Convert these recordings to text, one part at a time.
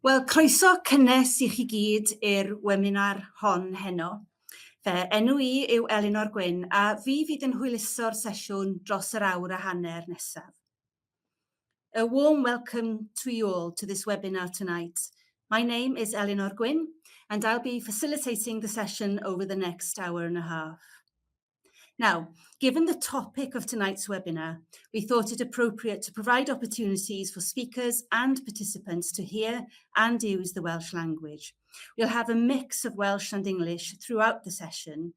Wel, croeso cynnes i chi gyd i'r weminar hon heno. Fe enw i yw Elinor Gwyn a fi fyd yn hwyluso'r sesiwn dros yr awr a hanner nesaf. A warm welcome to you all to this webinar tonight. My name is Elinor Gwyn and I'll be facilitating the session over the next hour and a half. Now, given the topic of tonight's webinar, we thought it appropriate to provide opportunities for speakers and participants to hear and use the Welsh language. We'll have a mix of Welsh and English throughout the session.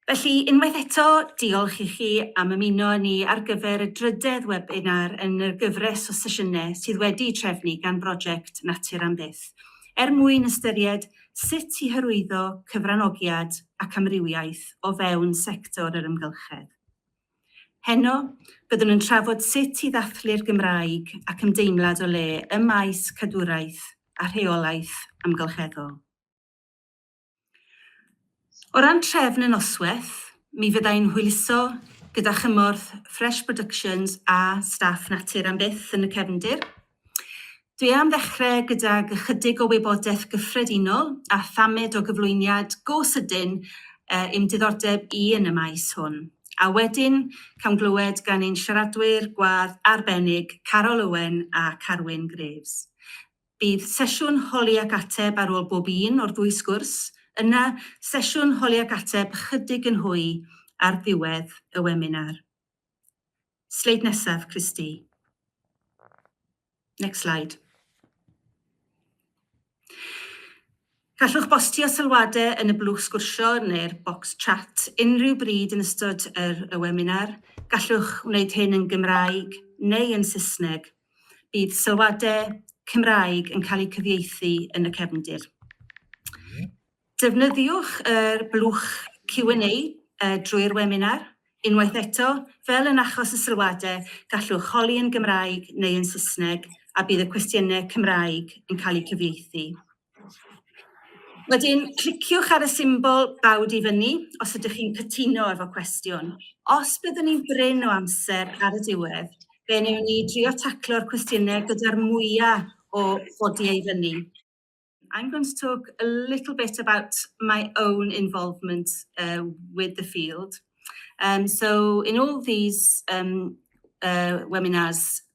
Felly, unwaith eto, diolch i chi am ymuno â ni ar gyfer y drydedd webinar yn y gyfres o sesiynau sydd wedi trefnu gan brosiect Natur am Byth, er mwyn ystyried sut i hyrwyddo cyfranogiad ac amrywiaeth o fewn sector yr amgylchedd. Heno, byddwn yn trafod sut i ddathlu'r Gymraeg ac ymdeimlad o le ym maes cadwraeth a rheolaeth amgylcheddol. O ran trefn y noswaith, mi fyddai'n hwyluso gyda chymorth Fresh Productions a staff Natur am Byth yn y cefndir. Dwi am ddechrau gydag ychydig o wybodaeth gyffredinol a thamed o gyflwyniad go sydyn i'm diddordeb i yn y maes hwn, a wedyn cawn glywed gan ein siaradwyr gwadd arbennig Carol Owen a Carwyn Graves. Bydd sesiwn holi ac ateb ar ôl bob un o'r ddwy sgwrs, yna sesiwn holi ac ateb ychydig yn hwy ar ddiwedd y weminar. Sleid nesaf, Christy. Next slide. Gallwch bostio sylwadau yn y blwch sgwrsio neu'r bocs chat unrhyw bryd yn ystod yr y weminar. Gallwch wneud hyn yn Gymraeg neu yn Saesneg. Bydd sylwadau Cymraeg yn cael eu cyfieithu yn y cefndir. Defnyddiwch yr blwch Q&A drwy'r weminar. Unwaith eto, fel yn achos y sylwadau, gallwch holi yn Gymraeg neu yn Saesneg a bydd y cwestiynau Cymraeg yn cael eu cyfieithu. Wedyn, cliciwch ar y symbol bawd i fyny os ydych chi'n cytuno efo cwestiwn. Os byddwn ni'n brin o amser ar y diwedd, fe newn ni drio taclo'r cwestiynau gyda'r mwyaf o godi ei fyny. I'm going to talk a little bit about my own involvement uh, with the field. Um, so in all these um, uh, webinars,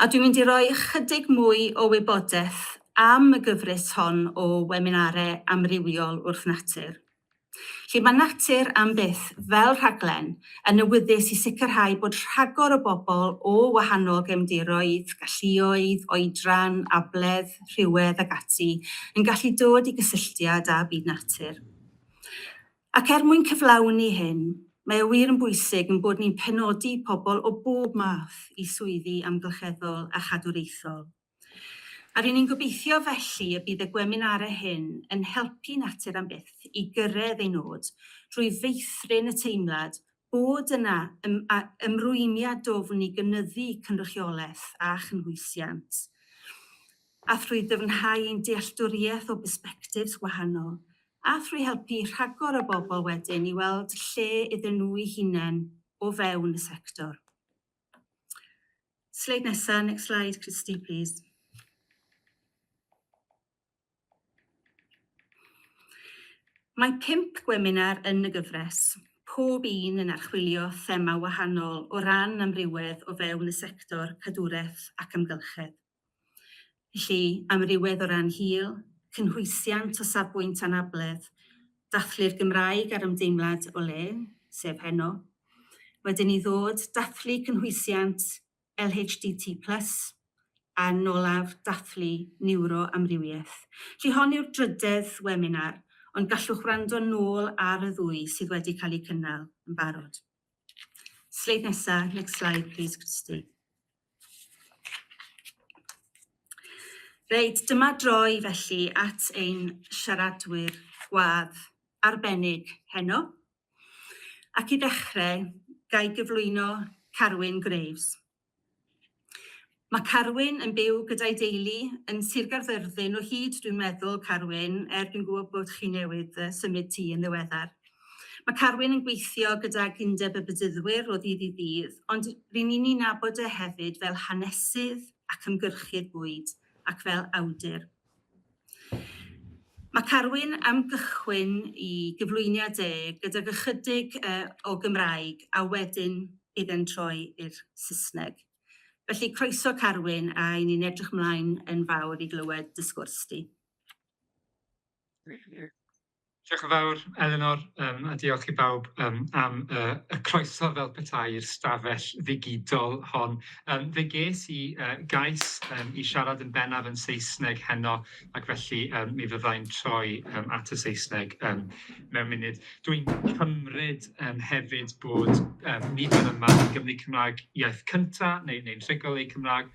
A dwi'n mynd i roi ychydig mwy o wybodaeth am y gyfres hon o weminare amrywiol wrth natur. Lle mae Natur am Byth fel rhaglen yn awyddus i sicrhau bod rhagor o bobl o wahanol gefndiroedd, galluoedd, oedran, abledd, rhywedd ac ati yn gallu dod i gysylltiad â byd natur. Ac er mwyn cyflawni hyn, mae o wir yn bwysig ein bod ni'n penodi pobl o bob math i swyddi amgylcheddol a chadwraethol. A ry'n ni'n gobeithio felly y bydd y gweminarau hyn yn helpu Natur am Byth i gyrraedd ei nod drwy feithrin y teimlad bod yna ymrwymiad dwfn i gynyddu cynrychiolaeth a chynhwysiant, a thrwy ddyfnhau ein dealltwriaeth o bersbectifs gwahanol, a thrwy helpu rhagor o bobl wedyn i weld lle iddyn nhw'u hunain o fewn y sector. Sleid nesa, next slide Christy, plîs. Mae pump gweminar yn y gyfres, pob un yn archwilio thema wahanol o ran amrywedd o fewn y sector cadwraeth ac amgylchedd. Felly, amrywedd o ran hil, cynhwysiant o safbwynt anabledd, dathlu'r Gymraeg a'r ymdeimlad o le, sef heno, wedyn i ddod, dathlu cynhwysiant, LHDT Plus, a Nolaf Dathlu Niwroamrywiaeth. Felly hon yw'r drydedd weminar, ond gallwch wrando nôl ar y ddwy sydd wedi cael eu cynnal yn barod. Sleid nesa, next slide please Christy. Reit, dyma droi felly at ein siaradwyr gwadd arbennig heno. Ac i ddechrau, ga i gyflwyno Carwyn Graves. Mae Carwyn yn byw gyda'i deulu yn Sir Gaerfyrddin o hyd, dwi'n meddwl, Carwyn, er dwi'n gwybod bod chi newydd symud ti yn ddiweddar. Mae Carwyn yn gweithio gydag Undeb y Bedyddwyr o ddydd i ddydd, ond rŷn ni'n ei nabod e hefyd fel hanesydd ac ymgyrchydd bwyd, ac fel awdur. Mae Carwyn am gychwyn i gyflwyniad e gydag ychydig yy o Gymraeg a wedyn idde'n troi i'r Saesneg. Felly croeso Carwyn a i ni'n edrych mlaen yn fawr i glywed dy sgwrs di. Diolch yn fawr Elinor yym a diolch i bawb yym am yy y croeso fel petai i'r stafell ddigidol hon yym fe ges i yy gais yym i siarad yn bennaf yn Saesneg heno ac felly yym mi fyddai'n troi yym at y Saesneg yym mewn munud dwi'n cymryd yym hefyd bod yym nid yn yma yn Gymru Cymraeg iaith cynta neu neu'n rhugl eu Cymraeg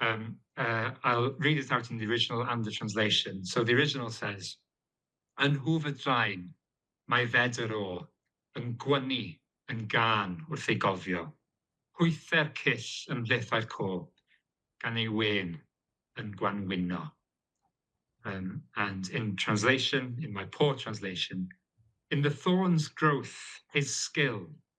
Um, uh, I'll read it out in the original and the translation. So the original says, Yn hwf y draen, mae fedr o, yn gwynnu, yn gan wrth ei gofio. Hwyther cyll yn mhlethau'r co, gan ei wen yn gwanwyno. Um, and in translation, in my poor translation, in the thorn's growth, his skill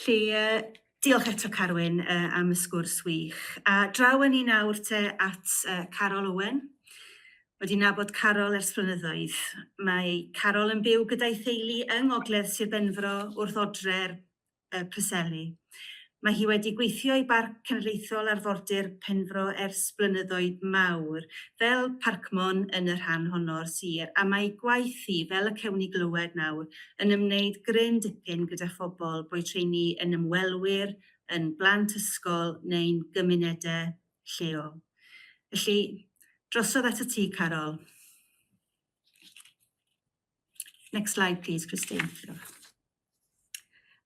Felly, uh, diolch eto Carwyn uh, am y sgwrs wych. A draw yn ni nawr te at uh, Carol Owen. Wedi nabod Carol ers flynyddoedd. Mae Carol yn byw gyda'i theulu yng Ngogledd Sir Benfro wrth odre'r uh, Preseli. Mae hi wedi gweithio i Barc Cenedlaethol Arfordir Penfro ers blynyddoedd mawr, fel parcmon yn y rhan honno o'r sir, a mae ei gwaith hi, fel y cewn ni glywed nawr, yn ymwneud gryn dipyn gyda phobl, boed rheini yn ymwelwyr, yn blant ysgol neu'n gymunedau lleol. Felly, drosodd atat ti, Carol. Next slide, please, Christine.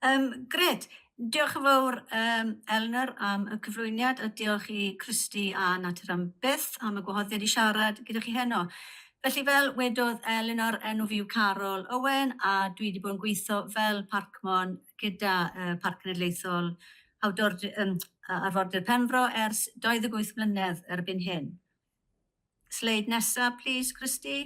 Um, gred. Diolch yn fawr, um, Eleanor, am y cyflwyniad a diolch i Christy a Natur am byth am y gwahoddiad i siarad gyda chi heno. Felly fel wedodd Eleanor, enw fi yw Carol Owen a dwi wedi bod yn gweithio fel parcmon gyda uh, Parc Cenedlaethol Hawdor, um, Arfordir Penfro ers 28 mlynedd erbyn hyn. Sleid nesaf, plis, Christy.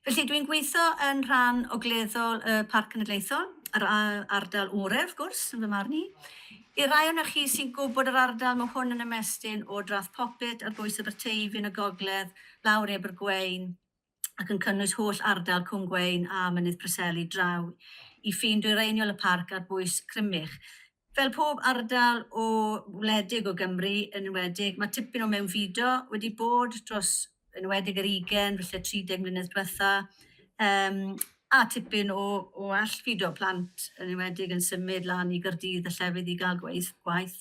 Felly, dwi'n gweithio yn rhan ogleddol y Parc Cenedlaethol, yr ardal orau, wrth gwrs, yn fy marn i. I rai o'n chi sy'n gwybod yr ardal, mae hwn yn ymestyn o Drath Popit ar bwys Aberteifi yn y gogledd, lawr Ebergwein, ac yn cynnwys holl ardal Cwm Gweun a Mynydd Preseli draw i ffin dwyreiniol y parc ar bwys Crymych. Fel pob ardal o wledig o Gymru, yn enwedig, mae tipyn o mewnfudo wedi bod dros yn enwedig yr 20, falle 30 mlynedd diwetha. Um, A tipyn o o allfudo plant yn enwedig yn symud lan i Gaerdydd a llefydd i gael gweith gwaith.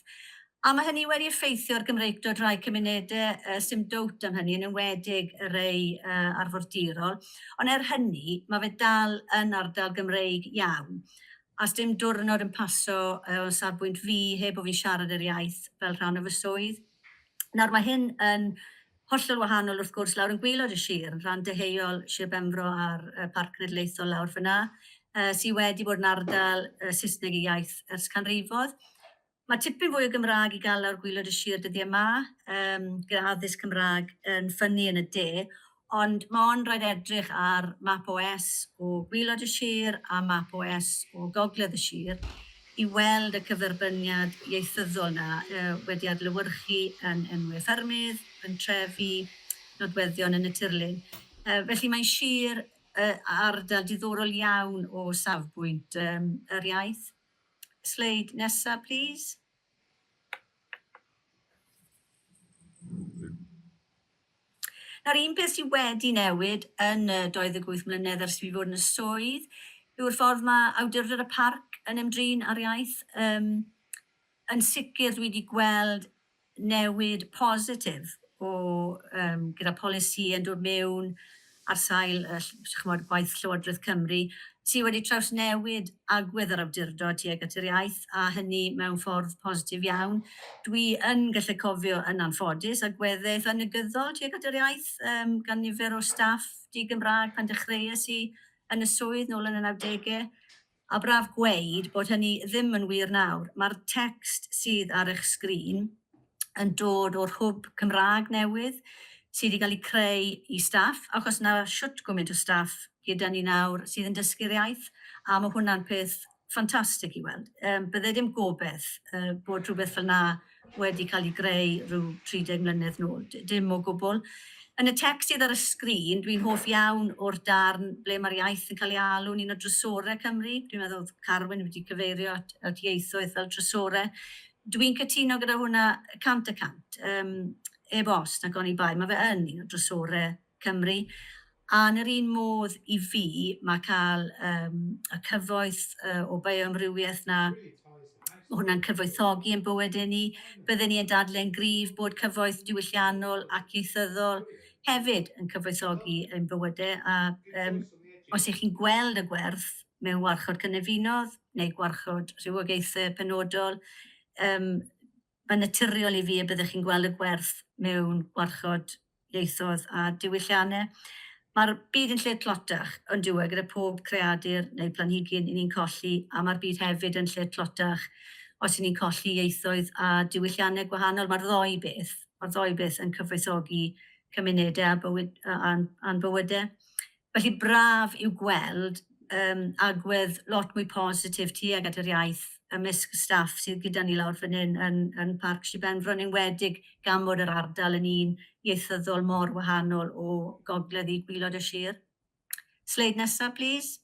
A ma' hynny wedi effeithio ar Gymreictod rhai cymunede yy sim dowt am hynny yn enwedig y rei yy arfordirol ond er hynny ma' fe dal yn ardal Gymreig iawn a sdim dwrnod yn paso yy o safbwynt fi heb bo fi'n siarad yr iaith fel rhan o fy swydd. Nawr ma' hyn yn Hollol wahanol wrth gwrs lawr yn gwaelod y sir, yn rhan deheuol Sir Benfro a'r Parc Cenedlaethol lawr fan'na, sy' wedi bod yn ardal Saesneg ei iaith ers canrifoedd. Mae tipyn fwy o Gymraeg i gael lawr gwaelod y sir dyddie 'ma, gyda addysg Cymraeg yn ffynnu yn y de, ond mae ond rhaid edrych ar map OS o gwaelod y sir a map OS o gogledd y sir i weld y cyferbyniad ieithyddol yna wedi adlewyrchu yn enwau ffermydd, pentrefi, nodweddion yn y tirlun. Felly mae'n sir a ardal diddorol iawn o safbwynt yr iaith. Sleid nesa plîs. Nawr, un peth sydd wedi newid yn y 28 mlynedd ers i fi fod yn y swydd yw'r ffordd mae Awdurdod y Parc yn ymdrin â'r iaith. Yym, yn sicr dwi wedi gweld newid positif o yym gyda polisi yn dod mewn ar sail ch'mod gwaith Llywodraeth Cymru sy' wedi trawsnewid agwedd yr awdurdod tuag at yr iaith, a hynny mewn ffordd positif iawn. Dwi yn gallu cofio yn anffodus agweddau eitha' negyddol tuag at yr iaith yym gan nifer o staff di-Gymraeg pan dechreues i yn y swydd nôl yn y nawdege. A braf gweud bod hynny ddim yn wir nawr, mae'r tecst sydd ar eich sgrin yn dod o'r hwb Cymraeg newydd sydd i gael ei creu i staff, achos na shwt gwmynt o staff gyda ni nawr sydd yn dysgu'r iaith, a ma' hwnna'n peth ffantastig i weld. Yym bydde dim gobeth yy bod rhywbeth fel 'na wedi cael ei greu rhyw 30 mlynedd nôl. D- dim o gwbl. Yn y tecst sydd ar y sgrin, dwi'n hoff iawn o'r darn ble mae'r iaith yn cael ei alw'n un o drysorau Cymru. Dwi'n meddwl oedd Carwyn wedi cyfeirio at, at ieithoedd fel trysore. Dwi'n cytuno gyda hwnna cant y cant. Um, eb os, nag oni bai. Mae fe yn un o drysorau Cymru, a yn yr un modd i fi mae cael yym y cyfoeth yy o bioamrywiaeth 'na, ma' hwnna'n cyfoethogi ein bywydau ni. Bydden ni yn dadleu'n gryf bod cyfoeth diwylliannol ac ieithyddol hefyd yn cyfoethogi ein bywydau a yym os 'y chi'n gweld y gwerth mewn Warchod Cynefinodd neu Gwarchod Rhywogaethau Penodol yym Mae'n naturiol i fi y byddech chi'n gweld y gwerth mewn gwarchod ieithoedd a diwylliannau. Mae'r byd yn lle tlotach, yn dyw e, gyda phob creadur neu blanhigyn i ni'n colli, a mae'r byd hefyd yn lle tlotach os i ni'n colli ieithoedd a diwylliannau gwahanol. Mae'r ddou beth, mae'r ddou beth yn cyfoethogi cymunedau a bywyd, a'n bywydau. Felly braf yw gweld yym agwedd lot mwy positif tuag at yr iaith ymysg staff sydd gyda ni lawr fan hyn yn yn Parc Sir Benfro yn enwedig gan fod yr ardal yn un ieithyddol mor wahanol o gogledd i gwylod y sir. Sleid nesa plîs.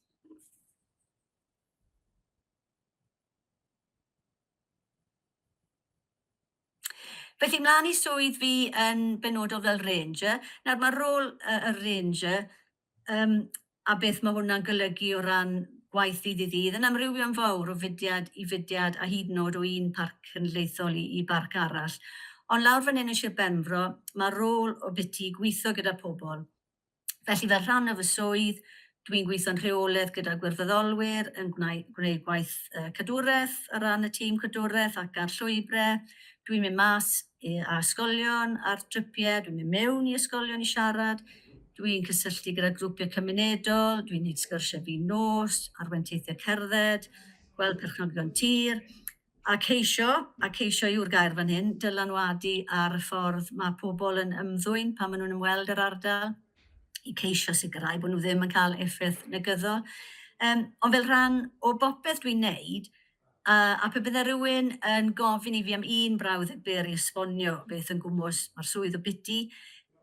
Felly, mlaen i swydd fi yn benodol fel ranger. Nawr, mae rôl y, y ranger um, a beth mae hwnna'n golygu o ran gwaith ddydd i ddydd yn amrywio'n fawr o fudiad i fudiad a hyd yn oed o un parc cenedlaethol i, i barc arall. Ond lawr fan hyn yn Sir Benfro, mae rôl o biti gweithio gyda pobl Felly fel rhan o fy swydd, dwi'n gweithio'n rheolaidd gyda gwirfoddolwyr yn gwneud gwaith cadwraeth ar ran y tîm cadwraeth ac ar llwybrau. Dwi'n mynd mas a ysgolion ar dripiau, dwi'n mynd mewn i ysgolion i siarad, dwi'n cysylltu gyda grwpiau cymunedol, dwi'n gwneud sgyrsiau fin nos, arwenteithiau cerdded, gweld perchnogion tir. A ceisio, a ceisio yw'r gair fan hyn, dylanwadu ar y ffordd mae pobl yn ymddwyn pan maen nhw'n ymweld yr ardal, i ceisio sicrhau bod nhw ddim yn cael effaith negyddol. Um, ond fel rhan o bopeth dwi'n neud, uh, a pe bydde rhywun yn gofyn i fi am un brawd y byr i esbonio beth yn gwmwys mae'r swydd o biti,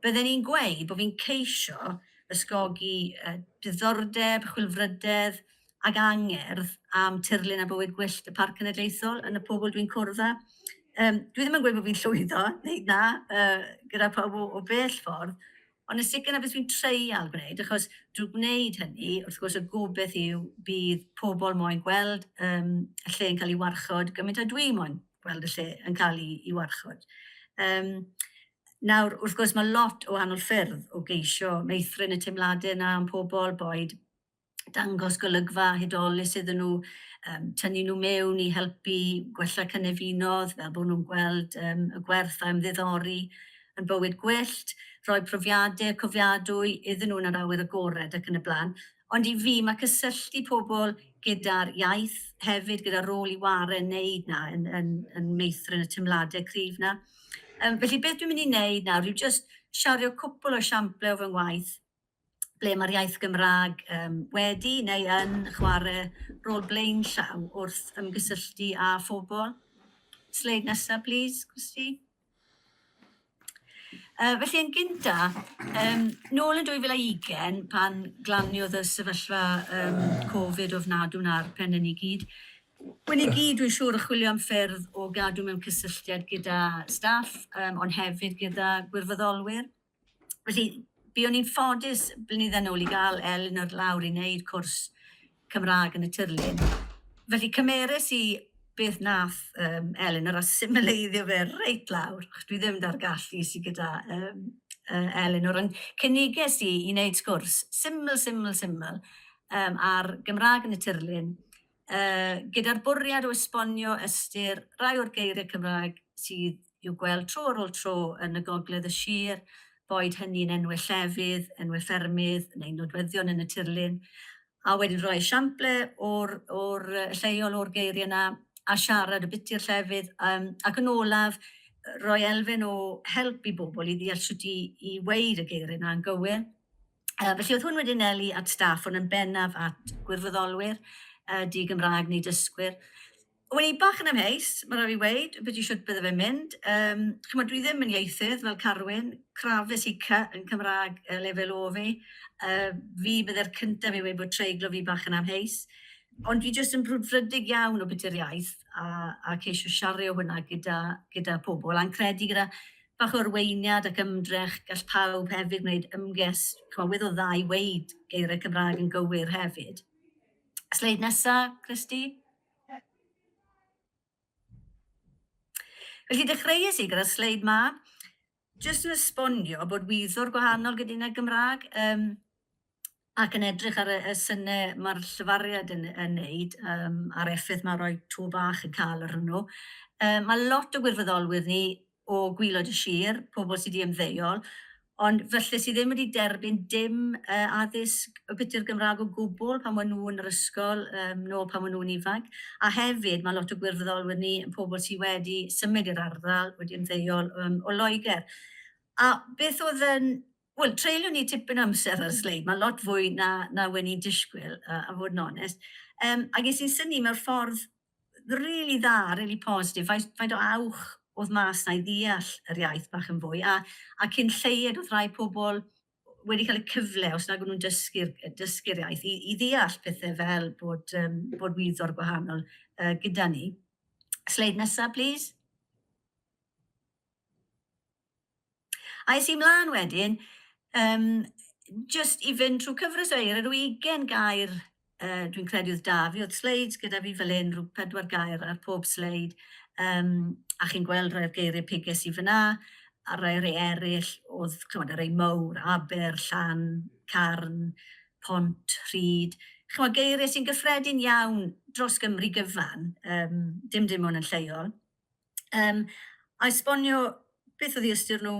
bydden i'n gweud bod fi'n ceisio ysgogi uh, diddordeb, chwilfrydedd, ag angerdd am tirlun a bywyd gwyllt y Parc Cenedlaethol yn y pobl dwi'n cwrdd â. Um, dwi ddim yn gweud bod fi'n llwyddo, neu na, uh, gyda pawb o, o bell ffordd, Ond yn sicr na beth dwi'n treial gwneud, achos drwy gwneud hynny, wrth gwrs y gobeith yw bydd pobl moyn gweld um, y lle yn cael ei warchod gymaint a dwi moyn gweld y lle yn cael ei, ei warchod. Um, nawr, wrth gwrs, mae lot o wahanol ffyrdd o geisio meithrin y teimladau yna am pobl, boed dangos golygfa hudolus iddyn nhw, um, tynnu nhw mewn i helpu gwella cynefinodd, fel bod nhw'n gweld um, y gwerth a ymddiddori yn bywyd gwyllt, rhoi profiadau cofiadwy iddyn nhw yn yr awyr agored ac yn y blaen. Ond i fi, mae cysylltu pobl gyda'r iaith hefyd, gyda rôl i ware yn neud na, yn, yn, yn meithrin y teimladau cryf na. Um, felly beth dwi'n mynd i wneud nawr yw just siario cwpl o siamplau o fy ngwaith ble mae'r iaith Gymraeg um, wedi neu yn chwarae rôl blaenllaw wrth ymgysylltu â phobl. Sleid nesaf, plis, Christy. Uh, felly yn gynta, um, nôl yn 2020, pan glaniodd y sefyllfa um, Covid ofnadw na'r pen yn i gyd, Wyn i gyd, dwi'n siŵr, y chwilio am ffyrdd o gadw mewn cysylltiad gyda staff, um, ond hefyd gyda gwirfoddolwyr. Felly, buon ni'n ffodus blynyddoedd nôl i gael Elin ar lawr i wneud cwrs Cymraeg yn y tirlun. Felly cymeres i beth nath um, Elin ar asimileiddio fe reit lawr, achos dwi ddim da'r gallu sydd gyda um, uh, Elin o'r cyniges i i wneud sgwrs syml, syml, syml um, ar Gymraeg yn y tirlun, uh, gyda'r bwriad o esbonio ystyr rai o'r geiriau Cymraeg sydd i'w gweld tro ar ôl tro yn y gogledd y sir, boed hynny'n enwau llefydd, enwau ffermydd neu nodweddion yn y tirlun, a wedyn rhoi esiamplau o'r, or lleiol o'r geiriau yna a siarad y biti'r llefydd um, ac yn olaf rhoi elfen o help i bobl i ddeall sut i, i weid y geiriau yna yn gywir. Uh, felly oedd hwn wedi'n eli at staff, ond yn bennaf at gwirfoddolwyr, uh, di Gymraeg neu dysgwyr. Wel, i bach yn amheus, mae'n rhaid i weid, beth i siwt bydde fe'n mynd. Um, Chymod, dwi ddim yn ieithydd fel Carwyn, crafus i cy yn Cymraeg uh, lefel o fi. Uh, fi bydde'r cyntaf i weid bod treiglo fi bach yn amheus. Ond fi jyst yn brwdfrydig iawn o beth i'r iaith a, a ceisio siario hwnna gyda, gyda pobl a'n credu gyda Bach o arweiniad ac ymdrech, gall pawb hefyd wneud ymges, cywydd o dda i weud geiriau Cymraeg yn gywir hefyd. Sleid nesa, Christy. Felly dechreuais i gyda'r sleid ma, jyst yn esbonio bod wyddor gwahanol gyda Gymraeg. Um, ac yn edrych ar y y syne ma'r llefariad yn yn neud yym a'r effaith ma' roi to bach yn ca'l arnyn nhw yy ma' lot o gwirfoddolwyr ni o gwylod y shir, pobl sy' di ymddeol ond falle sy' ddim wedi derbyn dim yy addysg o gyti'r Gymrag o gwbwl pan ma' nhw yn yr ysgol yym nôl pan ma' nhw'n ifanc a hefyd ma' lot o gwirfoddolwyr ni yn pobl sy' wedi symud i'r ardal wedi ymddeol yym o Loegr a beth o'dd yn Wel, treulio ni tipyn o amser ar y sleid, mae'n lot fwy na, na wen i'n disgwyl, a, a fod yn onest. Um, a ges i'n syni mewn ffordd rili really dda, rili really positif, faint, faint o awch oedd mas na i ddeall yr iaith bach yn fwy, a, a cyn lleied oedd rhai pobl wedi cael y cyfle, os nag nhw'n dysgu'r dysgu iaith, i, i ddeall pethau fel bod, um, bod wyddor gwahanol uh, gyda ni. Sleid nesaf, please. A es i mlaen wedyn, um, just i fynd trwy cyfres o eir, yr 20 gair, uh, dwi'n credu oedd da fi, oedd sleid gyda fi fel un, rhyw pedwar gair ar pob sleid, um, a chi'n gweld rhai'r geiriau piges i fyna, a rhai rei eraill oedd, chymod, rei mowr, aber, llan, carn, pont, rhyd. Chymod, geiriau sy'n gyffredin iawn dros Gymru gyfan, um, dim dim ond yn lleol. Yym, a esbonio beth oedd eu ystyr nhw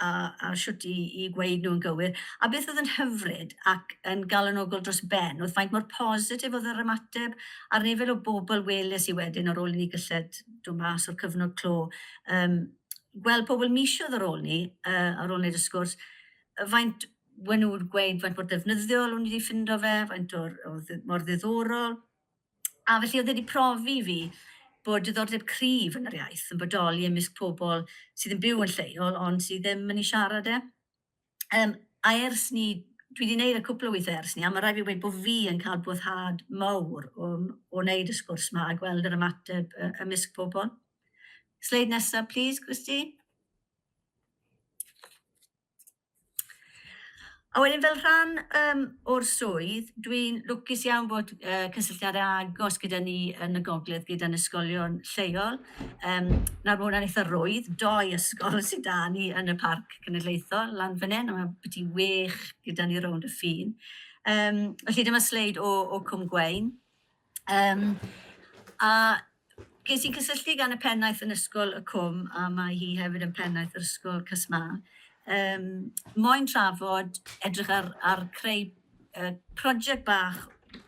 a a shwt i i gweud nhw'n gywir. A beth oedd yn hyfryd ac yn galonogol dros ben oedd faint mor positif oedd yr ymateb a'r nifer o bobl weles i wedyn ar ôl i ni gylled dod mas o'r cyfnod clo, yym, gweld pobl misoedd ar ôl 'ny, yy, ar ôl neud y sgwrs, faint we' nhw'n gweud faint mor ddefnyddiol o'n i 'di ffindo fe, faint o'r o ddi- mor ddiddorol. A felly oedd e wedi profi i fi bod diddordeb cryf yn yr iaith yn bodoli ymysg pobl sydd yn byw yn lleol ond sydd ddim yn ei siarad e. Um, a ers ni, dwi wedi gwneud y cwpl o weithiau ers ni, a mae rhaid fi wedi bod fi yn cael boddhad mawr o, o wneud y sgwrs yma a gweld yr ymateb ymysg pobl. Sleid nesaf, please, Christy. A wedyn fel rhan um, o'r swydd, dwi'n lwcus iawn bod uh, cysylltiadau agos gyda ni yn y gogledd gyda'n ysgolion lleol. Um, nawr mae hwnna'n eitha rwydd, doi ysgol sydd da ni yn y parc cenedlaethol lan fan hyn, a mae byti wych gyda ni rownd y ffin. Um, felly dyma sleid o, o Cwm Gwein. Yym, a ges i gysylltu gan y pennaeth yn Ysgol y Cwm, a mae hi hefyd yn pennaeth yr Ysgol CSMA, um, moyn trafod, edrych ar, ar creu uh, prosiect bach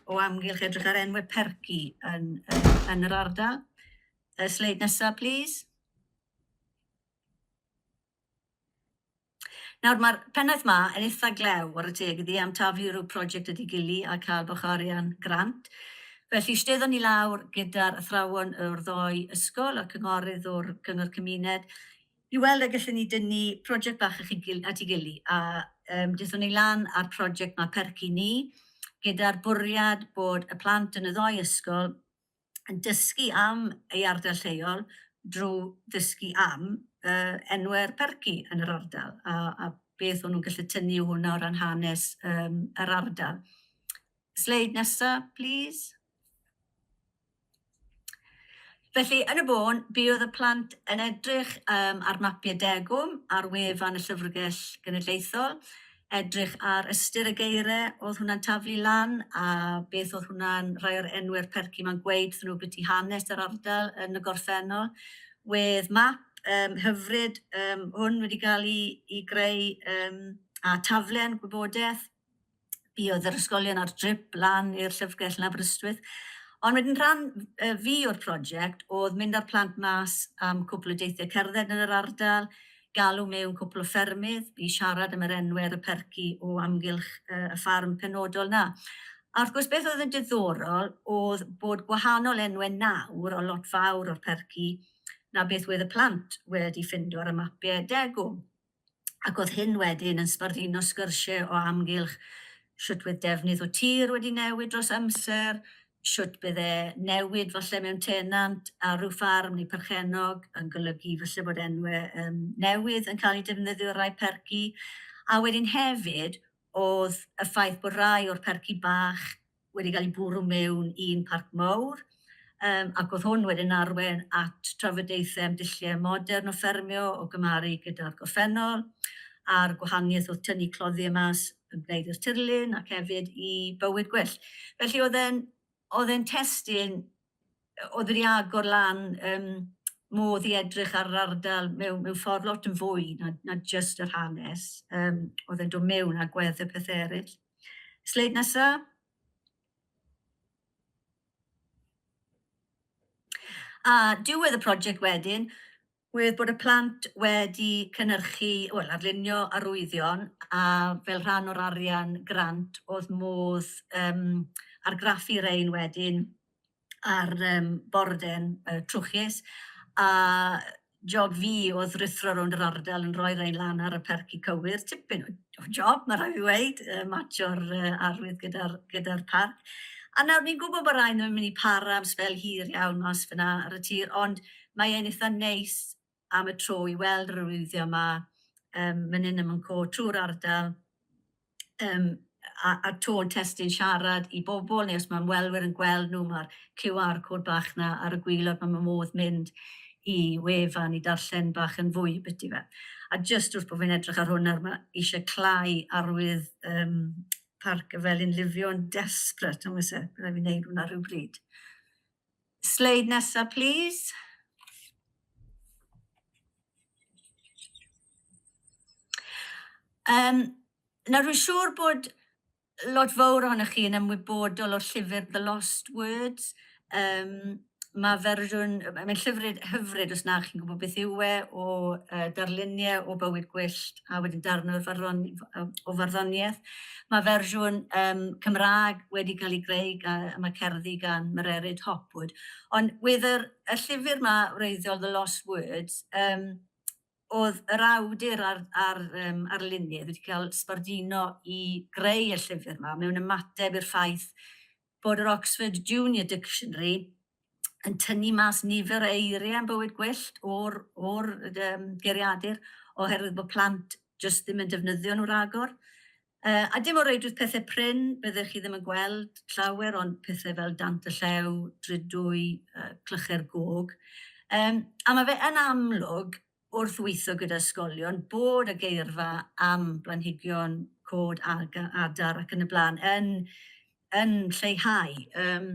o amgylch edrych ar enwau perci yn, yn, yn yr ardal. Uh, sleid nesaf, please. Nawr, mae'r pennaeth 'ma yn eitha glew, ware teg iddi, am taflu rhyw project wedi gili a cael bach o arian grant. Felly, steddon ni lawr gyda'r athrawon o'r ddoi ysgol a'r cynghorydd o'r Cyngor Cymuned i weld a gallwn ni dynnu project bach at ei gili. A um, dethon ni lan â'r project 'ma Percy Ni, gyda'r bwriad bod y plant yn y ddoi ysgol dysgu am ei ardal lleol drwy ddysgu am uh, enwau'r perci yn yr ardal a, a beth o'n nhw'n gallu tynnu o hwnna o ran hanes um, yr ardal. Sleid nesaf, please. Felly, yn y bôn, bydd y plant yn edrych um, ar mapiau degwm ar wefan y Llyfrgell Genedlaethol. edrych ar ystyr y geiriau oedd hwnna'n taflu lan a beth oedd hwnna'n rhai o'r enwau'r percy ma'n gweud wrthyn nhw byti hanes yr ardal yn y gorffennol. Wedd map um, hyfryd um, hwn wedi cael ei, ei greu um, a taflen gwybodaeth fi oedd yr ysgolion ar drip lan i'r llyfrgell yn Aberystwyth. Ond wedyn rhan uh, fi o'r prosiect oedd mynd â'r plant mas am cwpl o deithiau cerdded yn yr ardal, galw mewn cwpl o ffermydd i siarad am yr enwe ar y perci o amgylch y ffarm penodol 'na. A wrth gwrs beth oedd yn diddorol oedd bod gwahanol enwe nawr o lot fawr o'r perci na beth wedd y plant wedi ffindo ar y mapie degwm. Ac oedd hyn wedyn yn sbarduno sgyrsie o amgylch shwt wedd defnydd o tir wedi newid dros amser, shwt bydde newid falle mewn tenant ar ryw ffarm neu perchennog yn golygu falle bod enwe um, newydd yn cael eu defnyddio ar rai perci. A wedyn hefyd, oedd y ffaith bod rai o'r perci bach wedi cael eu bwrw mewn i'n parc mawr, um, ac oedd hwn wedyn arwen at trafodaethau am dulliau modern o ffermio o gymharu gyda'r gorffennol, a'r gwahaniaeth oedd tynnu cloddiau mas ymwneud i'r tirlun ac hefyd i bywyd gwyllt. Felly oedd e'n oedd e'n testyn oedd wedi agor lan um, modd i edrych ar yr ardal mewn, mewn ffordd lot yn fwy na, na just yr hanes. Um, oedd e'n dod mewn a gwedd y pethau eraill. Sleid nesaf. A diwedd y prosiect wedyn, Oherwydd bod y plant wedi cynhyrchu, wel, arlunio arwyddion a fel rhan o'r arian grant oedd modd um, argraffu rein wedyn ar um, borden uh, trwchus a job fi oedd rithro rownd yr ardal yn rhoi rein lan ar y perci cywir, tipyn o job, mae rhaid i weid, uh, matio'r uh, arwydd gyda'r gyda parc. A nawr ni'n gwybod bod rhaid nhw'n mynd i para am sbel hir iawn mas fyna ar y tir, ond mae e'n eitha neis am y tro i weld yr arwyddion 'ma yym man 'yn a man 'co trwy'r ardal yym a a tôn testun siarad i bobl neu os ma' ymwelwyr yn gweld nhw ma'r QR code bach 'na ar y gwilod ma' ma' modd mynd i wefan i darllen bach yn fwy biti fe. A jyst wrth bo fi'n edrych ar hwn nawr ma' isie cl'au arwydd yym Parc y Felin Lifion desperate nawr oes e? Bydd raid fi neud hwnna rywbryd. Sleid nesa plîs. Yym, nawr rwy'n siŵr bod lot fawr ohonoch chi yn ymwybodol o'r llyfr The Lost Words. Um, mae fersiwn, mae'n llyfr hyfryd os na chi'n gwybod beth yw e, o uh, darluniau o bywyd gwyllt a wedyn darn o'r farddon- o o farddoniaeth. Mae fersiwn um, Cymraeg wedi cael ei greu gan, a mae cerddi gan Mererid Hopwood. Ond wedd yr, y llyfr yma, wreiddiol The Lost Words, um, oedd yr awdur a'r, ar, um, arlunydd wedi cael sbardino i greu y llyfr yma mewn ymateb i'r ffaith bod yr Oxford Junior Dictionary yn tynnu mas nifer o eiriau yn bywyd gwyllt o'r, or, um, geriadur oherwydd bod plant jyst ddim yn defnyddio nhw ragor. Uh, a dim o reidrwydd pethau prin, byddech chi ddim yn gweld llawer ond pethau fel dant y llew, drydwy, uh, clychau'r gog. Um, a mae fe yn amlwg wrth weithio gyda ysgolion bod y geirfa am blanhigion cod adar ac yn y blaen yn, yn lleihau. Um,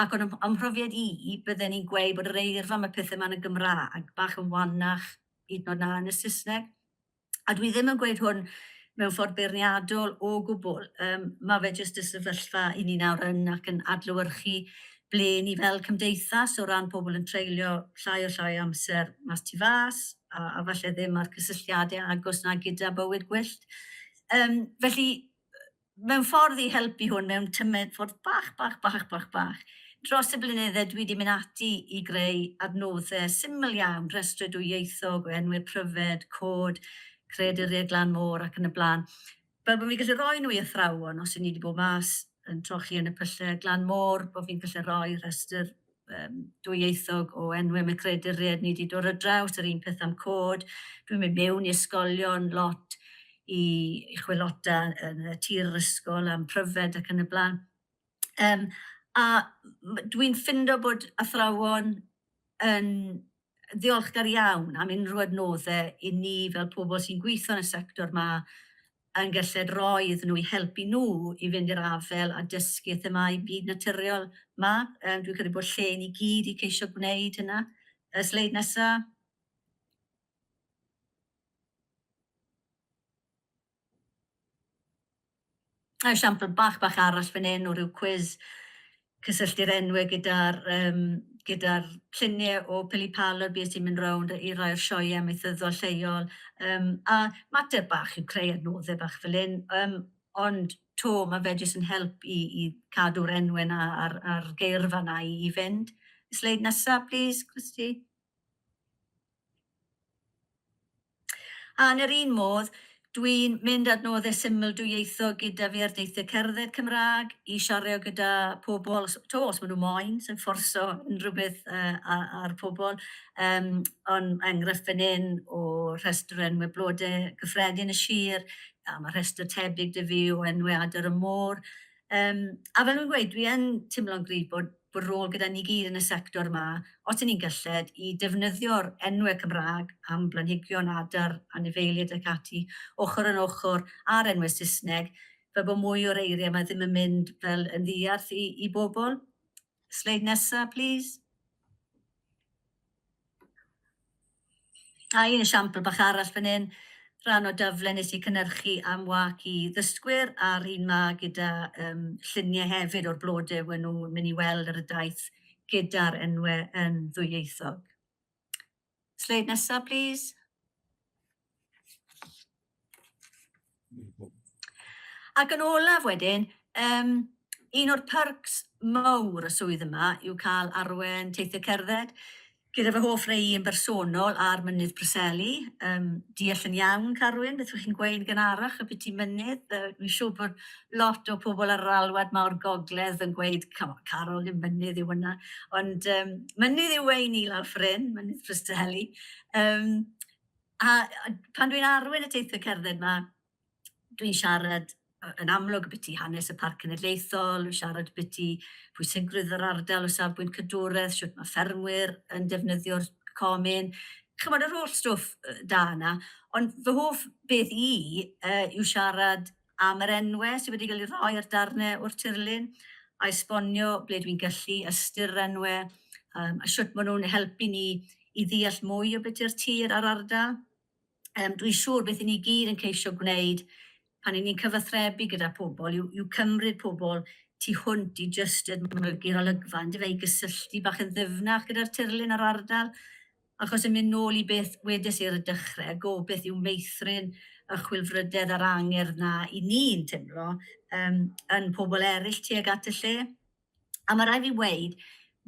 ac o'n ymhrofiad i, bydden ni'n gweud bod yr eirfa am y pethau yma'n y Gymraeg bach yn wannach hyd yn oed na yn y Saesneg. A dwi ddim yn gweud hwn mewn ffordd beirniadol o gwbl. Um, mae fe jyst y sefyllfa i ni nawr yn ac yn adlywyrchu ble ni fel cymdeithas o ran pobl yn treulio llai a llai o amser mas tu fas a, a falle ddim ar cysylltiadau agos na gyda bywyd gwyllt. Um, felly, mewn ffordd i helpu hwn, mewn tymed ffordd bach, bach, bach, bach, bach, dros y blynyddau dwi wedi mynd ati i greu adnoddau syml iawn, rhestru dwyieithog o enwau pryfed, cod, creadurie glan môr ac yn y blaen. fel bod fi'n gallu rhoi nhw i athrawon os y'n ni wedi bod mas yn trochi yn y pyllau glan môr, bod fi'n gallu rhoi rhestr um, dwyieithog o enwau mae creduriaid ni wedi dod ar draws, yr un peth am cod. Dwi'n mynd mewn i ysgolion lot i, i chwilota yn y tir yr ysgol am pryfed ac yn y blaen. Yym, a m- dwi'n ffindo bod athrawon yn ddiolchgar iawn am unrhyw adnodde i ni fel pobl sy'n gweithio yn y sector 'ma yn gelled roi iddyn nhw i helpu nhw i fynd i'r afael â dysgu themâu byd naturiol 'ma. Yym, dwi'n credu bod lle i ni gyd i ceisio gwneud hynna. Y sleid nesa. A esiampl bach bach arall fan hyn o ryw cwis, cysylltu'r enwau gyda'r yym gyda'r lluniau o Pili Palod, bues i'n mynd rownd i rai o'r sioeau amaethyddol lleol yym a mater bach yw creu adnoddau bach fel hyn yym ond 'to ma' fe jyst yn help i i cadw'r enwau 'na a'r a'r geirfa 'na i i fynd. Sleid nesa plîs Christy. A yn yr un modd, dwi'n mynd at noddau syml dwyieithog gyda fi ar deithiau cerdded Cymraeg, i siario gyda pobl, os, to, os maen nhw moyn, sai'n fforso unrhyw beth uh, ar pobl, um, ond enghraifft fan hyn o rhestr o enwau blodau cyffredin y sir, a mae rhestr tebyg dy fi o enwau adar y môr. Um, a fel nhw'n gweud, dwi yn teimlo'n gryf bod bod rôl gyda ni gyd yn y sector yma, os y'n ni'n gylled, i defnyddio'r enwe Cymraeg am blanhigion, adar, anifeiliaid ac ati, ochr yn ochr â'r enwe Saesneg, fel bod mwy o'r eiriau yma ddim yn mynd fel yn ddiarth i i bobl. Sleid nesa, plîs. A un esiampl bach arall fan hyn, rhan o daflen nes i cynhyrchu am wâc i ddysgwyr a'r un 'ma gyda yym llunie hefyd o'r blode we' nw myn' i weld ar y daith gyda'r enwe yn ddwyieithog. Sleid nesa plîs. Ac yn olaf wedyn, um, un o'r perks mawr y swydd yma yw cael arwen teithiau cerdded gyda fy hoff rei yn bersonol ar Mynydd Preseli. Um, deall yn iawn, Carwyn, beth ydych chi'n gweud gan arach y byti mynydd. Uh, Mi'n siŵr bod lot o pobl ar yr alwad mawr gogledd yn gweud, Carol, ddim mynydd yw hwnna. Ond um, mynydd yw ein i lawr ffrin, Mynydd Preseli. Um, A pan dwi'n arwain y teithiau cerdded 'ma, dwi'n siarad yn amlwg ambiti hanes y Parc Cenedlaethol, dwi'n siarad ambiti pwysigrwydd yr ardal o safbwynt cadwraeth, sut mae ffermwyr yn defnyddio'r comin, chimod yr holl stwff da yna. Ond fy hoff beth i yw siarad am yr enwau sydd wedi cael eu rhoi ar darnau o'r tirlun, a esbonio ble dwi'n gallu ystyr yr enwau, um, a sut maen nhw'n helpu ni i ddeall mwy o beth yw'r tir a'r ardal. Um, dwi'n siŵr beth i ni gyd yn ceisio gwneud pan i ni'n cyfathrebu gyda pobl yw, yw cymryd pobl tu hwnt i jyst edmygu'r olygfa, yn dyfe, i gysylltu bach yn ddyfnach gyda'r tirlun a'r ardal. Achos yn mynd nôl i beth wedes i ar y dechre, gobeith yw meithrin y chwilfrydedd a'r angerdd 'na 'y ni'n timlo yym yn pobl eryll tuag at y lle. A ma' rai' fi weud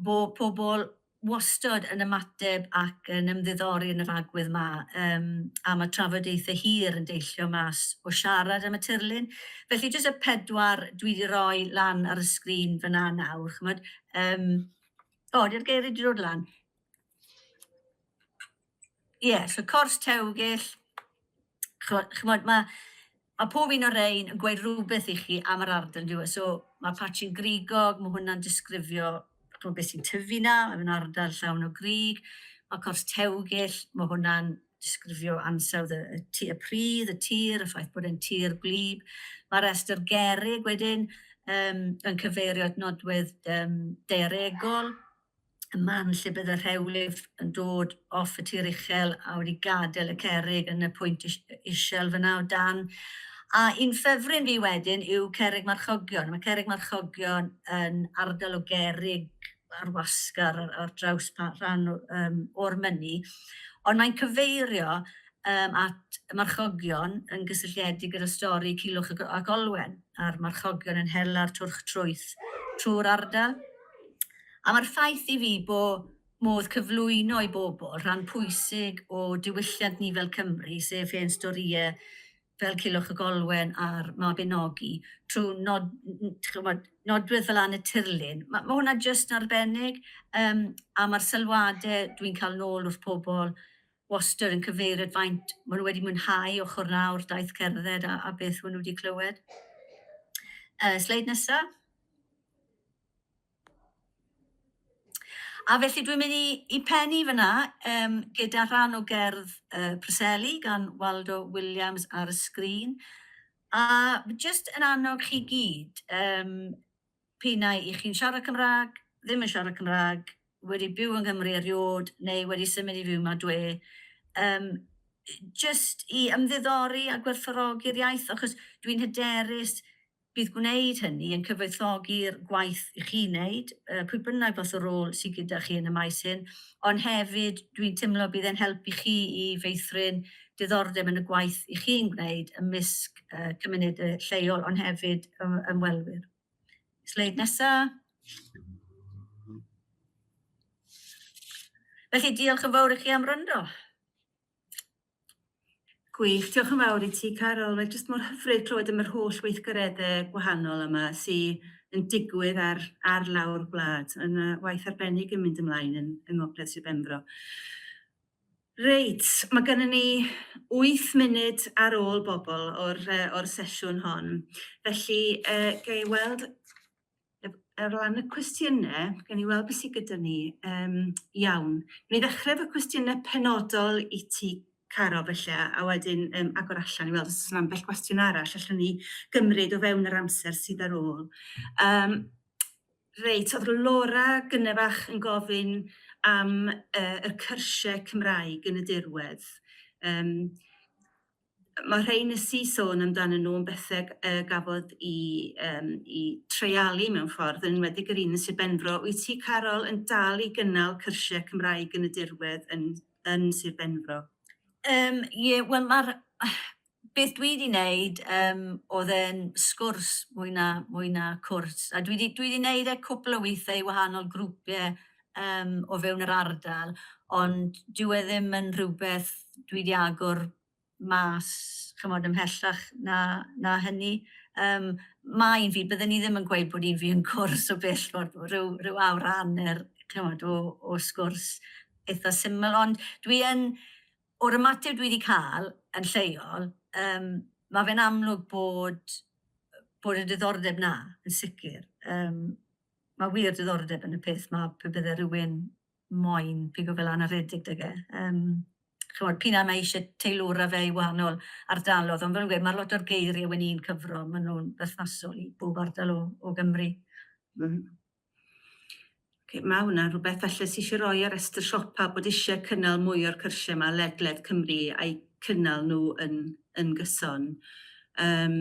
bo' pobl wastod yn ymateb ac yn ymddiddori yn yr agwedd 'ma yym a ma' trafodaethe hir yn deillio mas o siarad am y tirlun. Felly jyst y pedwar dwi 'di roi lan ar y sgrin fyn 'na nawr ch'mod yym o 'di'r geirie 'di dod lan? Ie, yeah, so cors tewgill, chymod, mae ma pob un o'r ein yn gweud rhywbeth i chi am yr ardal, diwy. E? So mae patchyn grigog, mae hwnna'n disgrifio chymod, beth sy'n tyfu na, mae hwnna'n ardal llawn o grig. Mae cors tewgill, mae hwnna'n disgrifio ansawdd y, y, tu, y pridd, y tir, y ffaith bod e'n tir gwlyb. Mae restr gerig wedyn um, yn cyfeirio at nodwedd um, daearegol. y man lle bydd y rhewlif yn dod off y tir uchel a wedi gadael y cerrig yn y pwynt isel fyna o dan. A un ffefryn fi wedyn yw cerrig marchogion. Mae cerrig marchogion yn ardal o gerrig ar wasg ar, ar draws rhan um, o'r mynnu, ond mae'n cyfeirio um, at y marchogion yn gysylltiedig gyda stori Cilwch ac Olwen, a'r marchogion yn hela'r twrch trwyth trwy'r ardal. A mae'r ffaith i fi bo' modd cyflwyno i bobl rhan pwysig o diwylliant ni fel Cymry, sef hen storïau fel Culhwch y Golwen a'r Mabinogi, trwy nod- dych ch'mod, nodwedd fel Anne y Tirlun, ma' ma' hwnna jyst yn arbennig, yym a ma'r sylwadau dwi'n cael yn ôl wrth pobl wastad yn cyfeirio at faint ma' nhw wedi mwynhau ochr yna o'r daith cerdded a a beth ma' nhw wedi clywed. Yy sleid nesa. A felly dwi'n mynd i, i pennu fyna um, gyda rhan o gerdd uh, Preseli gan Waldo Williams ar y sgrin. A jyst yn annog chi gyd, um, pinnau i chi'n siarad Cymraeg, ddim yn siarad Cymraeg, wedi byw yng Nghymru eriod neu wedi symud i fyw yma dwe, um, jyst i ymddiddori a gwerthfawrogi'r iaith, achos dwi'n hyderus Bydd gwneud hynny yn cyfoethogi'r gwaith i chi'n neud, pwy bynnag fath o rôl sy gyda chi yn y maes hyn, ond hefyd dwi'n timlo bydd e'n help i chi i feithrin diddordeb yn y gwaith i chi'n gwneud ymysg cymunede lleol ond hefyd ymwelwyr. Sleid nesa. Felly diolch yn fawr i chi am wrando. Gwych, diolch yn fawr i ti Caryl. Mae jyst mor hyfryd clywed am yr holl weithgaredde gwahanol yma sy yn digwydd ar, ar lawr gwlad. Mae yna waith arbennig yn mynd ymlaen yn, yng Ngogledd Sir Benfro. Reit, mae gennym ni 8 munud ar ôl bobl o'r, uh, o'r sesiwn hon. Felly, uh, ga i weld ar ran y cwestiynau, gen i weld beth sydd gyda ni. Um, iawn. Ni ddechrau efo cwestiynau penodol i ti, Caro, felly, a wedyn um, agor allan i weld os yna ambell gwestiwn arall allan ni gymryd o fewn yr amser sydd ar ôl. Um, reit, oedd Laura gynnefach yn gofyn am uh, y cyrsiau Cymraeg yn y dirwedd. Um, Mae'r rhain nes i sôn amdanyn nhw yn bethau yy gafodd i yym i treialu mewn ffordd, yn enwedig yr un yn Sir Benfro. Wyt ti, Carol, yn dal i gynnal cyrsiau Cymraeg yn y dirwedd yn yn Sir Benfro? Um, ie, wel mae'r... Beth dwi wedi wneud um, oedd e'n sgwrs mwy na, mwy na cwrs, a dwi wedi, dwi wedi wneud e cwpl o weithiau i wahanol grwpiau yym o fewn yr ardal, ond dyw e ddim yn rhywbeth dwi 'di agor mas ch'mod ymhellach na na hynny. Yym ma' un fi, bydden i ddim yn gweud bod un fi yn gwrs o bell ffordd, ryw ryw awr a hanner ch'mod o o sgwrs eitha syml, ond dwi yn... o'r ymateb dwi 'di ca'l yn lleol yym ma' fe'n amlwg bod bod y diddordeb 'na yn sicr, yym Mae wir diddordeb yn y peth 'ma, pe bydde rhywun moyn pigo fe lan a rhedeg 'da fe. Yym, ch'mod, p'un ai mae isie teilwra fe i wahanol ardalodd, ond fel o'n i'n gweud, ma'r lot o'r geirie wen i'n cyfro, ma' nhw'n berthnasol i bob ardal o o Gymru. Mm. Ok, ma' hwnna'n rhywbeth falle sy isie roi ar restr siopa bod isie cynnal mwy o'r cyrsie 'ma ledled Cymru a'u cynnal nhw yn yn gyson. Yym.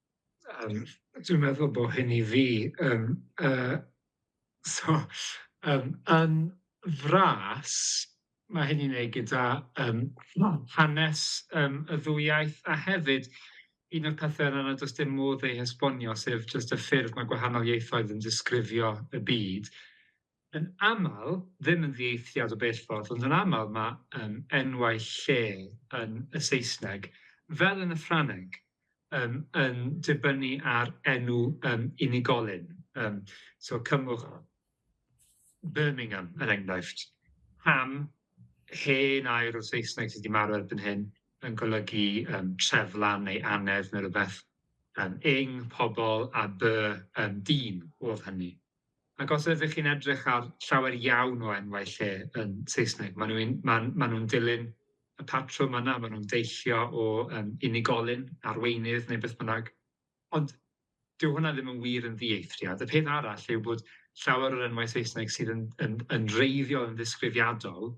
Yym dwi'n meddwl bo hyn i fi yym yy so yym yn fras ma' hyn i'n neud gyda yym hanes yym y ddwy iaith a hefyd un o'r pethe yna nad o's dim modd ei hesbonio sef jyst y ffyrdd ma' gwahanol ieithoedd yn disgrifio y byd. yn aml, ddim yn ddieithriad o bell ffordd, ond yn aml mae um, enwau lle yn y Saesneg, fel yn y Ffrangeg, um, yn dibynnu ar enw um, unigolyn. Um, so cymwch Birmingham, er enghraifft. Ham, hen air o Saesneg sydd wedi marw erbyn hyn, yn golygu um, treflan neu anedd neu rhywbeth. Um, ing, pobl, a by, um, dyn, oedd hynny. Ac os ydych chi'n edrych ar llawer iawn o enwau lle yn Saesneg, maen nhw'n ma, ma nhw dilyn y patrwm yna, maen nhw'n deillio o um, unigolyn, arweinydd neu beth bynnag. Ond dyw hwnna ddim yn wir yn ddieithriad. Y peth arall yw bod llawer o'r enwau Saesneg sydd yn, yn, yn reiddiol yn ddisgrifiadol,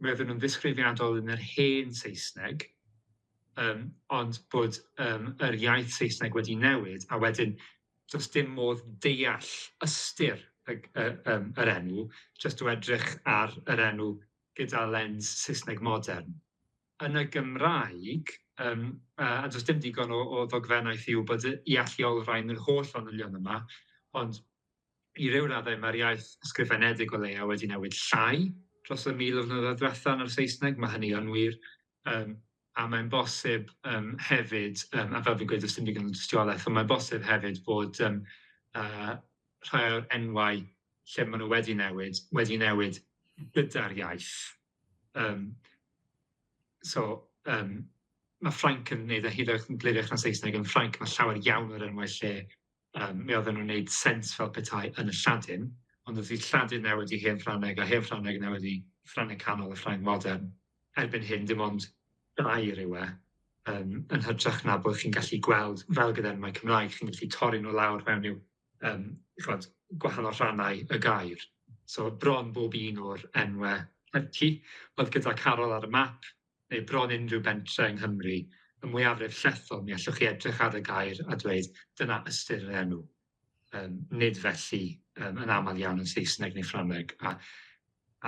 roedden nhw'n ddisgrifiadol yn yr hen Saesneg, um, ond bod um, yr iaith Saesneg wedi newid, a wedyn does dim modd deall ystyr y y yym yr enw jyst o edrych ar yr enw gyda lens Saesneg modern. Yn y Gymraeg yym yy a does dim digon o o ddogfennaeth i wybod y i alluolrhain yr holl fanylion yma ond i ryw raddau ma'r iaith ysgrifenedig o leia' wedi newid llai dros y mil o flynyddoedd dwetha yn yr Saesneg ma' hynny yn wir yym a mae'n bosib yym hefyd yym a fel fi'n gweud does dim digon o dystiolaeth ond mae'n bosib hefyd bod yym yy rhai o'r enwau lle ma' nw wedi newid wedi newid gyda'r iaith yym so yym ma' Ffrainc yn neud e hyd yn oed yn gliriach na Saesneg yn Ffrainc ma' llawer iawn o'r enwau lle Yym, mi oedden nhw'n wneud sens fel petai yn y Lladin, ond wrth i Lladin newid i Hen Ffrangeg a Hen Ffrangeg newid i Ffrangeg Canol a Ffrangeg Modern, erbyn hyn dim ond gair yw e, yym, yn hytrach na bod chi'n gallu gweld, fel gyda'r enwau Cymraeg, chi'n gallu torri nhw lawr mewn i'w, yym, chimod, gwahanol rhannau y gair. So bron bob un o'r enwau Hepty oedd gyda Carol ar y map, neu bron unrhyw bentre yng Nghymru, y mwyafrif llethol, mi allwch chi edrych ar y gair a dweud dyna ystyr yr enw. Um, nid felly um, yn aml iawn yn Saesneg neu Ffrangeg. A,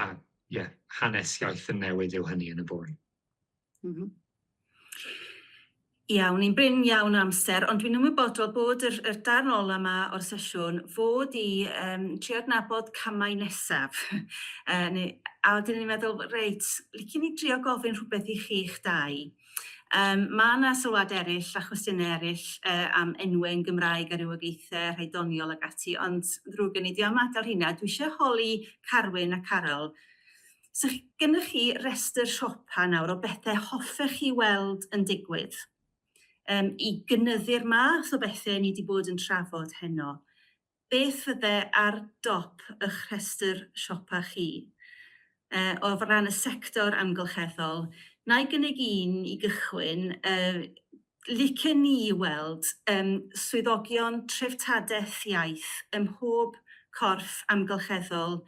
a yeah, hanes iaith yn newid yw hynny yn y bôn. Mm -hmm. Iawn, ni'n brin iawn o amser, ond dwi'n ymwybodol bod yr, yr darn ola yma o'r sesiwn fod i um, trio adnabod camau nesaf. e, neu, a wedyn ni'n meddwl, reit, licen ni drio gofyn rhywbeth i chi'ch dau. Um, mae yna sylwad eraill a chwestiynau eraill e, am enwau yn Gymraeg a rhywogaethau, rhai doniol ag ati, ond ddrwg gen i, dwi am adael hynna. Dwi eisiau holi Carwyn a Carol 'sa gennych chi restr siopa nawr o bethau hoffech chi weld yn digwydd um, i gynyddu'r math o bethau ni wedi bod yn trafod heno. Beth fydde ar dop eich rhestr siopa chi? Uh, o ran y sector amgylcheddol, na i gynnig un i gychwyn, uh, licen ni i weld yym swyddogion treftadaeth iaith ym mhob corff amgylcheddol,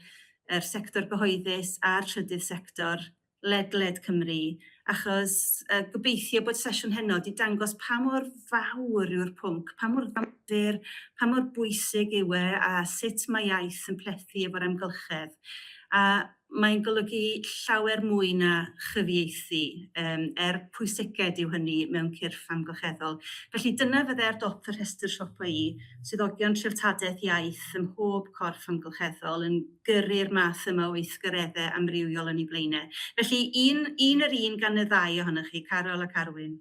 yr sector gyhoeddus a'r trydydd sector, ledled Cymru, achos yy gobeithio bod sesiwn heno 'di dangos pa mor fawr yw'r pwnc, pa mor ddamfur, pa mor bwysig yw e a sut mae iaith yn plethu efo'r amgylchedd. A Mae'n golygu llawer mwy na chyfieithu, er pwysiced yw hynny mewn cyrff amgylcheddol. Felly, dyna fydde ar dop fy rhestr siopa i, swyddogion treftadaeth iaith ym mhob corff amgylcheddol yn gyrru'r math yma o weithgareddau amrywiol yn ei flaenau. Felly, un, un yr un gan y ddau ohonoch chi, Caryl ac Arwyn.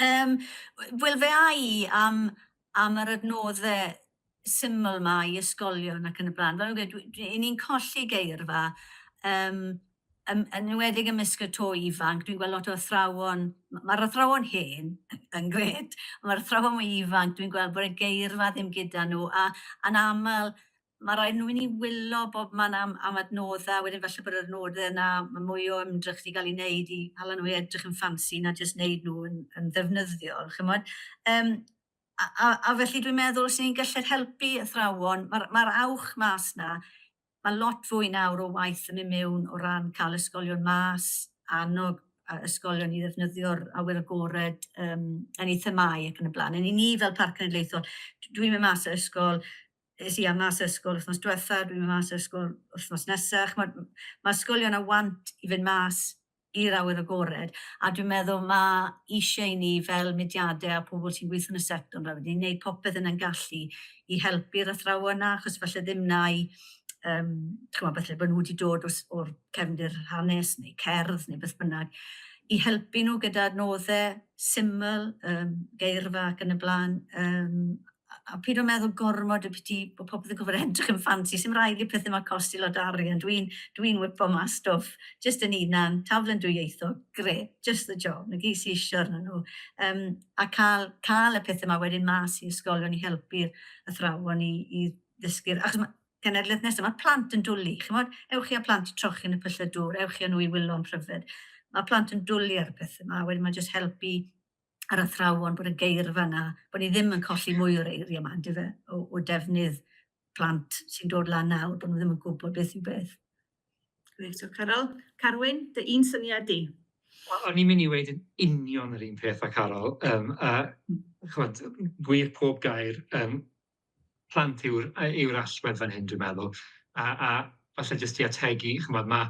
Um, Wel, fe a i am, am yr adnoddau syml yma i ysgolion ac yn y blaen. Fel ni'n ni'n colli geirfa, um, yn enwedig ymysg y to ifanc, dwi'n gweld lot o athrawon, mae'r athrawon hen yn gred, mae'r athrawon mwy ifanc, dwi'n gweld bod y geirfa ddim gyda nhw, a, a'n aml Mae rhaid nhw i ni wylo bob man am am adnoddau, wedyn falle bod yr adnoddau yna, mae mwy o ymdrech 'di cael ei wneud i hala nhw i edrych yn ffansi na jyst wneud nhw yn yn ddefnyddiol, chimod. Yym a a a felly dwi'n meddwl os ni'n gallu helpu athrawon, mae'r mae'r awch mas 'na, mae lot fwy nawr o waith yn mynd mewn o ran cael ysgolion mas, annog yy ysgolion i ddefnyddio'r awyr agored yym yn eu themâu ac yn y blaen. Yn i ni fel Parc Cenedlaethol, dwi'n mynd mas o ysgol es i am mas o ysgol wythnos diwetha, dwi'n mynd mas o ysgol wythnos nesa. Ch'mod, ma' ysgolion a want i fynd mas i'r awyr agored, a dwi'n meddwl ma' isie i ni fel mudiade a pobl sy'n gweithio yn y sector 'ma wedyn neud popeth yn 'yn gallu i helpu'r athrawon 'na, achos falle ddim 'na i yym ch'mod falle bo' nw 'di dod os- o'r cefndir hanes neu cerdd neu beth bynnag, i helpu nw gyda adnodde syml, yym geirfa ac yn y bla'n, yym. a peidio â meddwl gormod ambiti bod popeth yn gorfod edrych yn ffansi, sdim rhaid i'r pethe 'ma costi lot o arian, dwi'n dwi'n whip-o mas stwff jyst yn hunan, taflen dwyieithog, grêt, just the job, 'na gyd sy isio arnyn nhw. Yym a cael cael y pethe 'ma wedyn mas i ysgolion i helpu'r athrawon i i ddysgu'r... Achos ma' cenedlaeth nesa, ma'r plant yn dwli, chimod, ewch chi â plant i trochi yn y pyllau dŵr, ewch chi â nhw i wylo yn pryfed. Ma'r plant yn dwli ar y pethe 'ma, wedyn ma' jyst helpu a'r athrawon bod y geirfa 'na, bod ni ddim yn colli mwy o'r eiriau 'ma yndyfe, o, o defnydd plant sy'n dod lan nawr, bod nhw ddim yn gwybod beth yw beth. Gwych, diolch Caryl. Carwyn, dy un syniad di? O'n i'n mynd i weud yn union yr un peth â Caryl, um, a chwad, gwir pob gair, um, plant yw'r yy yw'r allwedd fan hyn dwi'n meddwl a a falle jyst i ategu ch'mod ma'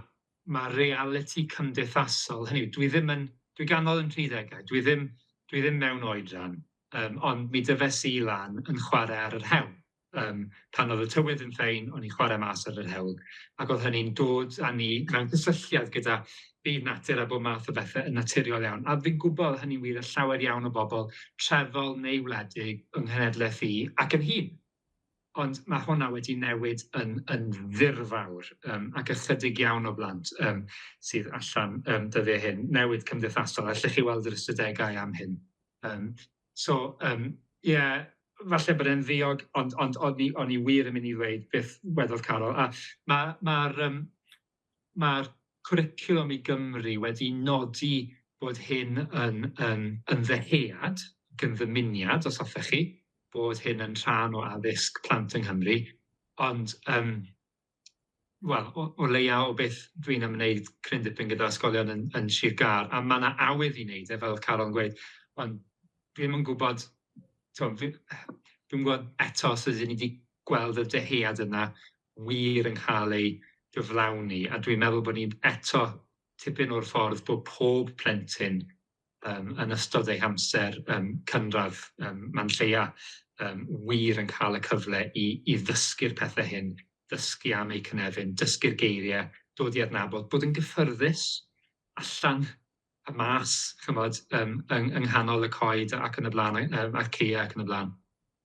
ma' realiti cymdeithasol, hynny yw dwi ddim yn dwi ganol yn tri degau, dwi ddim dwi ddim mewn oedran yym ond mi dyfes i lan yn chware ar yr hewl yym pan o'dd y tywydd yn ffein o'n i'n chware mas ar yr hewl ac o'dd hynny'n dod â ni mewn cysylltiad gyda Bydd natur a bob math o bethe yn naturiol iawn, a fi'n gwybod hynny'n wir yn llawer iawn o bobl trefol neu wledig yng nghenedlaeth i ac yn hŷn. Ond mae hwnna wedi newid yn, yn ddirfawr, um, ac ychydig iawn o blant um, sydd allan um, dyddiau hyn, newid cymdeithasol, allech chi weld yr ystadegau am hyn. Um, so, um, yeah, falle bod e'n ddiog, ond, ond o'n, i, on i wir yn mynd i ddweud beth wedodd Carol. A mae'r ma, ma um, mae'r cwricwlwm i Gymru wedi nodi bod hyn yn yn yn ddyhead, yn ddymuniad os hoffech chi, bod hyn yn rhan o addysg plant yng Nghymru, ond yym wel o o leia o beth dwi'n ymwneud cryn dipyn gyda ysgolion yn yn Sir Gâr a ma' 'na awydd i neud e fel o'dd Carol yn gweud ond dwi ddim yn gwbod t'o' fi dwi'm gwbod eto os ydyn ni 'di gweld y dyhead yna wir yn cael ei gyflawni, a dwi'n meddwl bod ni eto tipyn o'r ffordd bod pob plentyn um, yn ystod ei hamser um, cynradd um, man lleia um, wir yn cael y cyfle i, i ddysgu'r pethau hyn, dysgu am eu cynefin, dysgu'r geiriau, dod i adnabod, bod yn gyffyrddus allan y mas, chymod, um, yng, yng nghanol y coed ac yn y blaen, um, a'r ceia ac yn y blaen.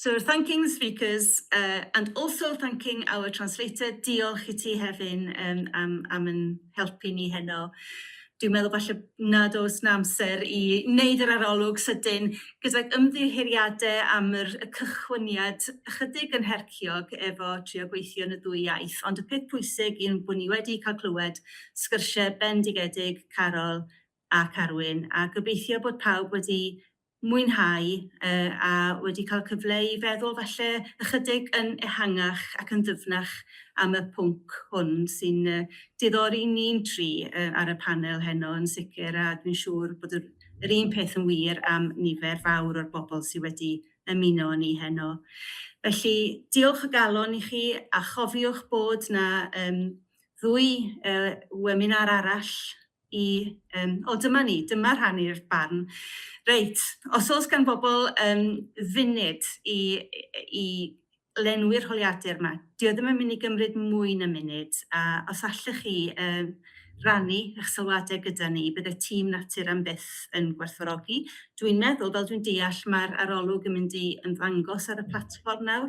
So thanking the speakers uh, and also thanking our translator. Diolch i ti Hefin um, am, am yn helpu ni heno. Dwi'n meddwl falle nad oes na amser i wneud yr arolwg sydyn gydag ymddiheuriadau am yr, y cychwyniad ychydig yn herciog efo trio gweithio yn y ddwy iaith. Ond y peth pwysig yw bod ni wedi cael clywed sgyrsiau bendigedig Carol a Carwyn, a gobeithio bod pawb wedi mwynhau a wedi cael cyfle i feddwl falle ychydig yn ehangach ac yn ddyfnach am y pwnc hwn sy'n diddori ni'n tri ar y panel heno yn sicr, a dwi'n siŵr bod yr un peth yn wir am nifer fawr o'r bobl sydd wedi ymuno â ni heno. Felly, diolch o galon i chi, a chofiwch bod 'na ddwy weminar arall i yym o dyma ni, dyma rhannu'r barn. Reit, os oes gan bobl um, funud i, i lenwi'r holiadur yma, dio e ddim yn mynd i gymryd mwy na munud, a os allech chi um, rannu eich sylwadau gyda ni, bydde tîm natur am byth yn gwerthfawrogi. Dwi'n meddwl, fel dwi'n deall, mae'r arolwg yn mynd i ymddangos ar y platfform nawr.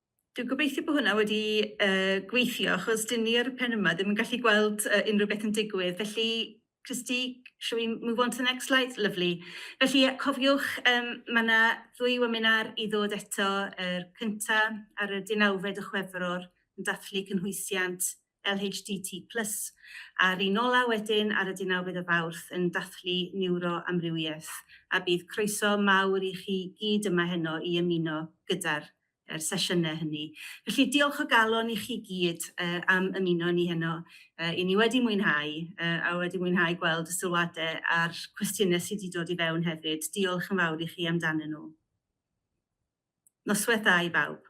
Dwi'n gobeithio bod hwnna wedi gweithio achos dy'n ni ar y pen yma ddim yn gallu gweld unrhyw beth yn digwydd. Felly, Christie, shall we move on to the next slide? Lyfli. Felly, cofiwch, mae yna ddwy weminar i ddod eto, yr cyntaf ar y 19 o Chwefror yn dathlu cynhwysiant LHDT plus, a Rinola wedyn ar y deunawfed o Fawrth yn dathlu Niwroamrywiaeth, a bydd croeso mawr i chi gyd yma heno i ymuno gyda'r yr sesiynau hynny. Felly diolch o galon i chi gyd am ymuno â ni heno. I ni wedi mwynhau, a wedi mwynhau gweld y sylwadau a'r cwestiynau sydd wedi dod i fewn hefyd. Diolch yn fawr i chi amdanyn nhw. Noswaith dda i bawb.